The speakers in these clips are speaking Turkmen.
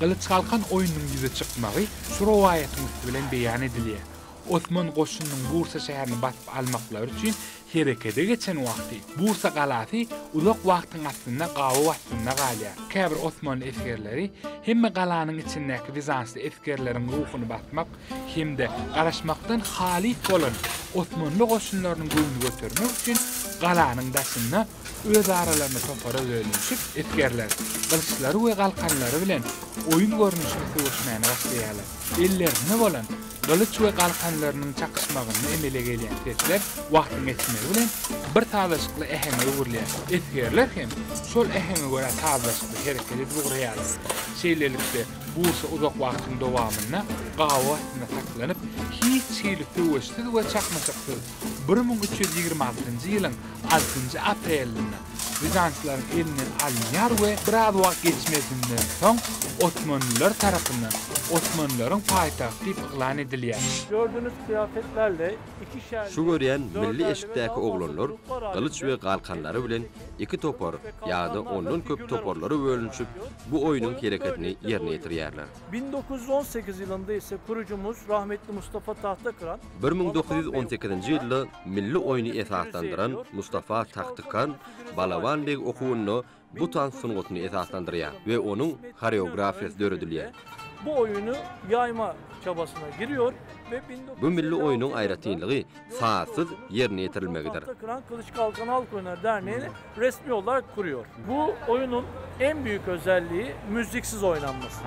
Gylyç Galkan oýnunyň ýüze çykmagy şu rowaýatyň üsti bilen beýan edilýär. Osman goşunynyň Bursa şäherini basyp almaklary üçin herekete geçen wagty, Bursa galasy uzak wagtyň astynda gabaw astynda galýar. Käbir osmanly esgerleri hemme galanyň içindäki wizansly esgerleriň ruhuny basmak hem-de garaşmakdan halyt bolan osmanly goşunlarynyň göwnüni götermek üçin galanyň daşynda Öz aralarynda topara bölünişip, esgerler gylyçlary we galkanlary bilen oýun görnüşli söweşmäni başlaýarlar. Ellerinde bolan gylyç we galkanlarynyň çakyşmagynda emele gelýän sesler wagtyň geçmegi bilen bir sazlaşykly äheňe öwrülýär. Esgerler hem şol äheňe görä sazlaşykly hereket edip ugraýarlar. Şeýlelikde, guşa uzak wagtyň dowamynda gabaw astynda saklanyp, hiç hili söweşsiz we çaknyşyksyz bir müň üç ýüz ýigrimi altynjy ýylyň altynjy aprelinde bizantlaryň elinden alynýar we biraz wagt geçmezinden soň osmanlylar tarapyndan osmanlylaryň paýtagty diýip yglan edilýär. Gördüniz kyýafet belli, iki şäher. Şu görýän milli eşikdäki oglanlar gylyç we galkanlary bilen iki topar ýa-da ondan köp toparlara bölünişip bu oýnuň hereketini ýerine ýetirýärler. Bin dokuz ýüz on sekiz ýylynda ise kurucumuz rahmetli Mustafa Tahtakran Bir müň dokuz ýüz on sekizinji ýylda milli oýny esaslandyran Mustafa Tahtykan Balaban beg okuwynda bu tans sungatyny esaslandyrýar we onuň horeografiýasy döredilýär. Bu oýuny ýaýma çabasyna girýor we bin dokuz ýüz elli altynjy Bu milli oýnuň aýratynlygy sazsyz ýerine ýetirilmegidir. Bu oýnuň en büýük özelligi müziksiz oýnanmasy.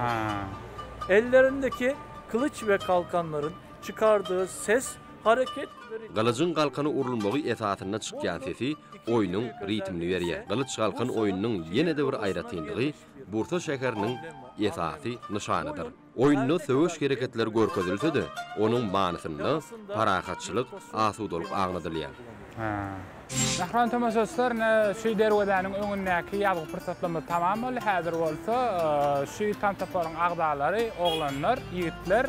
Ellerindeki kylyç we kalkanlaryň çykardygy ses, hareket we ritm. Gylyjyň galkana urulmagy esasynda çykýan sesi oýnuň ritmini berýär. Gylyç-galkan oýnunyň ýene-de bir aýratynlygy Bursa şäheriniň esasy nyşanydyr. Oýunda söweş hereketleri görkezilse-de, onuň manysynda parahatçylyk, asudalyk aňladylýar. Mähriban tomaşaçylar, ine, şu derwezäniň öňündäki ýazgy pursatlarymyz tamam boldy. Häzir bolsa şu tans toparyň agzalary, oglanlar, ýigitler,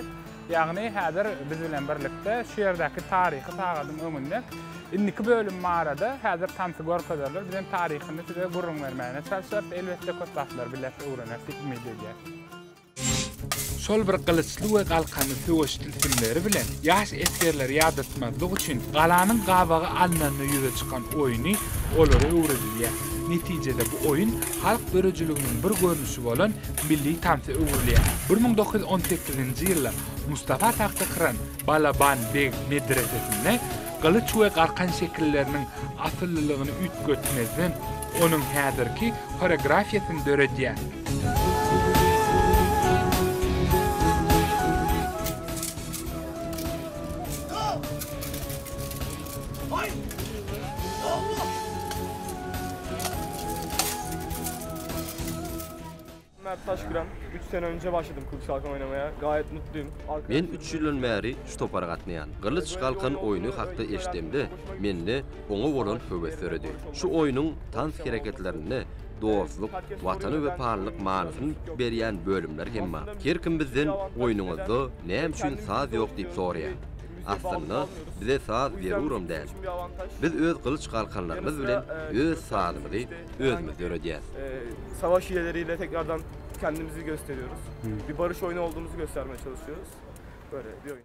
ýagny häzir biz bilen birlikde şu ýerdäki taryhy sagadyň öňünde indiki bölüm barada häzir tansy görkezerler. Biz hem taryhyny size gürrüň bermäne çalşarys. Elbetde, köp zatlary bileris, öwreneris diýip umyt edýäris. Şol bir gylyçly we galkanly söweş tilsimleri bilen ýaş esgerleri ýadatmazlyk üçin galanyň gabagy alnanda ýüze çykan oýny olara öwredilýär. Netijede bu oýun halk döredijiliginiň bir görnüşi bolan milli tansa öwrülýär. Bir müň dokuz ýüz on sekizinji ýylda Mustafa Tahtakyran Balaban beg medresesinde gylyç we galkan şekilleriniň asyllylygyny üýtgetmezden, onuň häzirki horeografiýasyny döredýär. Mert Taşkıran. 3 sene önce başladım Kılıç Kalkan oynamaya. Gayet mutluyum. Men 3 ýyldan bäri şu topara gatnaýan. Gylyç Galkan oýny hakda eşdemde, mende oňa bolan höwes döredi. Şu oýnuň tans hereketlerinde dostluk, watana wepalylyk manysyny berýän bölümler hem bar. Her kim bizden Oýnuňyzda näme üçin saz ýok diýip soraýar. Aslynda, bize saz zeruram däl. Biz öz gylyç galkanlarymyz bilen öz sazymyzy özümiz döredýäs. Savaş hileleriyle tekrardan kendimizi gösteriyoruz. Bir barış oyunu olduğumuzu göstermeye çalışıyoruz. Böyle bir oyun.